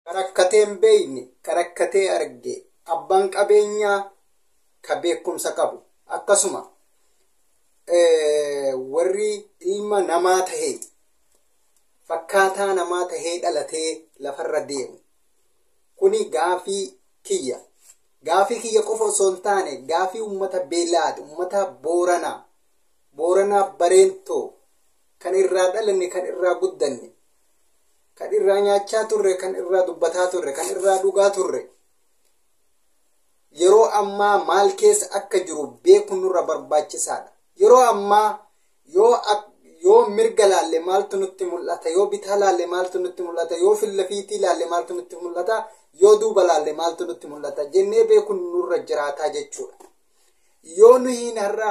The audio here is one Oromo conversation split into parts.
Karakkatee hin beekne karakkatee arge abbaan qabeenyaa ka beekumsa qabu akkasuma warri ilma namaa tahee fakkaataa namaa tahee dhalatee lafarra deemu kuni gaafii kiyya Gaafii kiyya qofa osoo hin taane gaafii ummata Beela'aad, ummata Booranaa, Booranaa Bareentoo kan irraa dhalanne, kan irraa guddanne, kan irraa nyaachaa turre, kan irraa dubbataa turre, kan irraa dhugaa turre yeroo ammaa maal keessa akka jiru beekuun nurra barbaachisaadha. Yeroo ammaa Yoo ak- yoo mirga laalle maaltu nutti mul'ata? Yoo bitaa laalle maaltu nutti mul'ata? Yoo fillafiitii laalle maaltu nutti mul'ata? Yoo duuba laalle maaltu nutti mul'ata? Jennee beekuun nurra jiraataa jechuudha. Yoo nuyiin har'a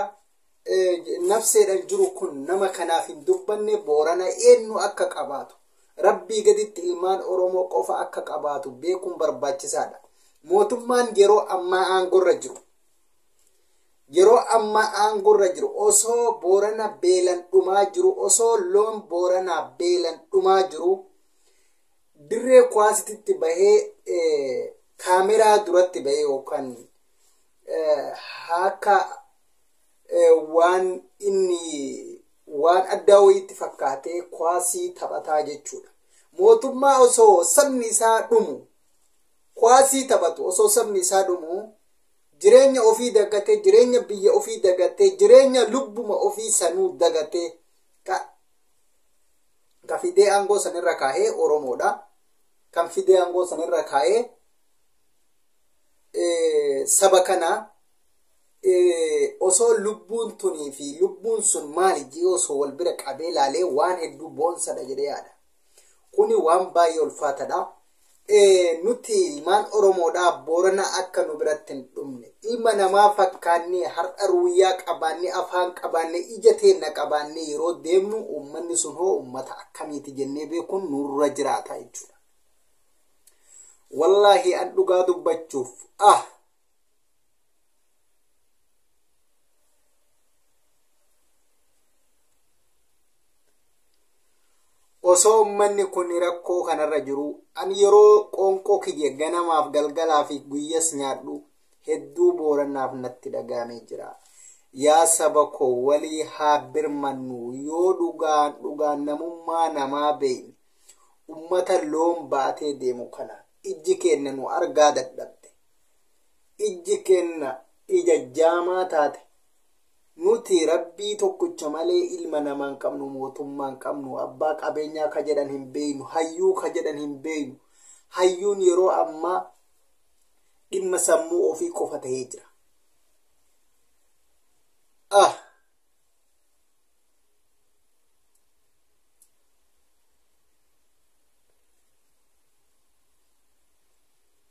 eh, nafseedhaan jiru kun nama kanaaf hin dubbanne boorana eenyu akka qabaatu rabbii gaditti ilmaan Oromoo qofa akka qabaatu beekuun barbaachisaadha. Mootummaan yeroo ammaa aangorra jiru yeroo ammaa aangorra jiru osoo boorana beelan dhumaa jiru osoo loon booranaa beelan dhumaa jiru dirree kuwaasititti bahee kaameraa duratti bahee yookaan akka waan inni waan addaa wayiitti fakkaatee kuwaasii taphataa jechuudha. Mootummaa osoo sabni isaa dhumu kuwaasii taphatu osoo sabni isaa dhumu jireenya ofii dagatee jireenya biyya ofii dagatee jireenya lubbuma ofii sanuu dagatee ka ka fidee aangoo sanirra kaa'ee oromoodha kan fidee aangoo sanirra kaa'ee eh, saba kanaa eh, osoo lubbuun tunii fi lubbuun sun maali jee osoo wal bira qabee laalee waan hedduu boonsadha jedhee yaada Kuni waan baay'ee ulfaatadha. Nuti ilmaan Oromoodhaa Boorana akka nu biratti hin dhumne. Ilma namaa fakkaannee har'a ruuyyaa qabaannee afaan qabaannee ija teenna qabaannee yeroo deemnu uummanni sun hoo uummata akkamiiti jennee beekuun nurra jiraata jechuudha. Wallaahi an dhugaa dubbachuuf ah osoo ummanni kun rakkoo kanarra jiru an yeroo qoonqoo kiyya ganamaaf galgalaa fi guyyas nyaadhu hedduu booranaaf natti dhagaamee jira yaa saba koo walii haa birmannu yoo dhugaan dhugaan namummaa namaa beeyne ummata loon baatee deemu kana ijji keenna nu argaa dadhabde ijji keenna ija jaamaa taate nuti rabbii tokkicha malee ilma namaa hin qabnu mootummaa hin qabnu abbaa qabeenyaa ka jedhan hin beeynu hayyuu ka jedhan hin beeynu hayyuun yeroo ammaa dhimma sammuu ofii qofa ta'ee jira. Ah.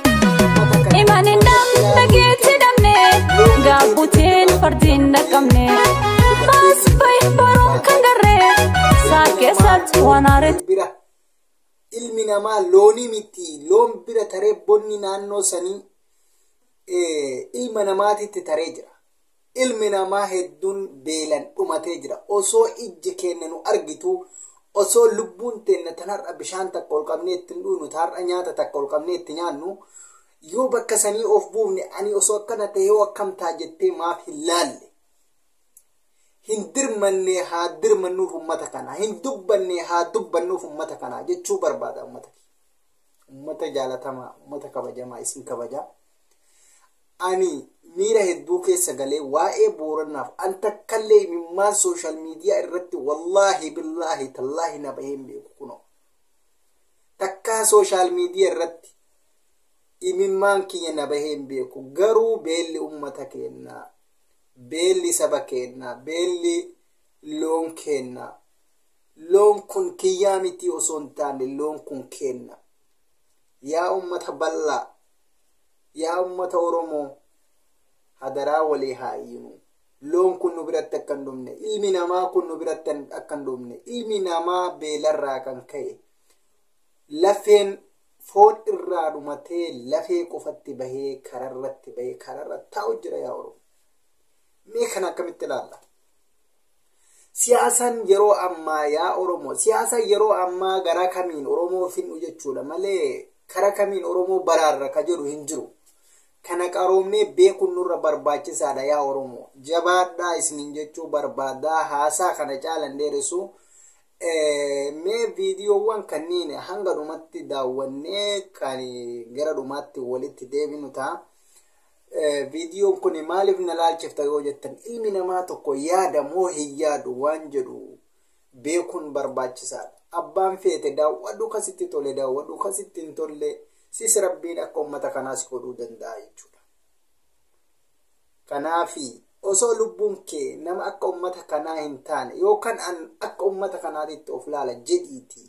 Iman hin dhabne geetti dhabne gaabbuteen fardiin dhaqqabne baas bayi baruun kan garree saa keessatti waan aaree. bira ilmi namaa loonii miti loon bira taree bonni naannoo sanii eh, ilma namaatitti taree jira Ilmi namaa hedduun beelan dhumatee jira. Osoo ijji keenna nu argituu, osoo lubbuun teenna tan har'a bishaan takka ol qabnee itti hin dhuynu, ta har'a nyaata takka ol qabnee itti nyaannu, yoo bakka sanii of buufne ani osoo akkana tahee hoo akkam ta'a jettee maaf hin laalle? Hin dirmanne haa dirmannuuf ummata kanaa, hin dubbanne haa dubbannuuf ummata kanaa jechuu barbaada ummata kiyya. Ummata jaalatamaa, ummata kabajamaa isin kabajaa. Ani miira hedduu keessa galee waa'ee Boorannaaf an takkallee imimmaan sooshaal miidiyaa irratti wallaahi billaahi tallaahi na bahee hin beeku kunoo. Takkaa sooshaal miidiyaa irratti imimmaan kiyya na bahee hin beeku garuu beelli ummata keennaa beelli saba keennaa beelli loon keennaa loon kun kiyyaa mitii osoo hin taane loon kun keenna yaa ummata bal'aa Yaa ummata Oromoo hadaraa walii haa iyyinu. Loon kun nu biratti akka hin dhumne, ilmi namaa kun nu biratti akka hin dhumne, ilmi namaa beelarraa kan ka'e lafeen foon irraa dhumatee lafee qofatti bahee kararratti bahee kararra taa'u jira yaa Oromoo. Mee kana akkamitti ilaalla? Siyaasaan yeroo ammaa yaa Oromoo siyaasa yeroo ammaa garaa kamiin Oromoo fin'u jechuudha malee kara kamiin Oromoo baraarra ka jedhu hin jiru. Kana qaroomnee beekuun nurra barbaachisaadha yaa Oromoo. Jabaadhaa isiniin jechuu barbaadaa haasaa kana caalan dheeressu. Mee viidiyoowwan kanneen hanga dhumatti daawwannee kan gara dhumaatti walitti deebinu ta'a. Viidiyoon kun maaliif na laalchifta yoo jettan ilmi namaa tokko yaada moo hin yaadu waan jedhu beekuun barbaachisaadha. Abbaan feete daawwadhu kan sitti tole daawwadhu kan sitti hin tolle sis rabbiin akka uummata kanaa si godhuu danda'a jechuudha. Kanaafi osoo lubbuun kee nama akka uummata kanaa hin taane yookaan akka uummata kanaatitti of laala jedhiitii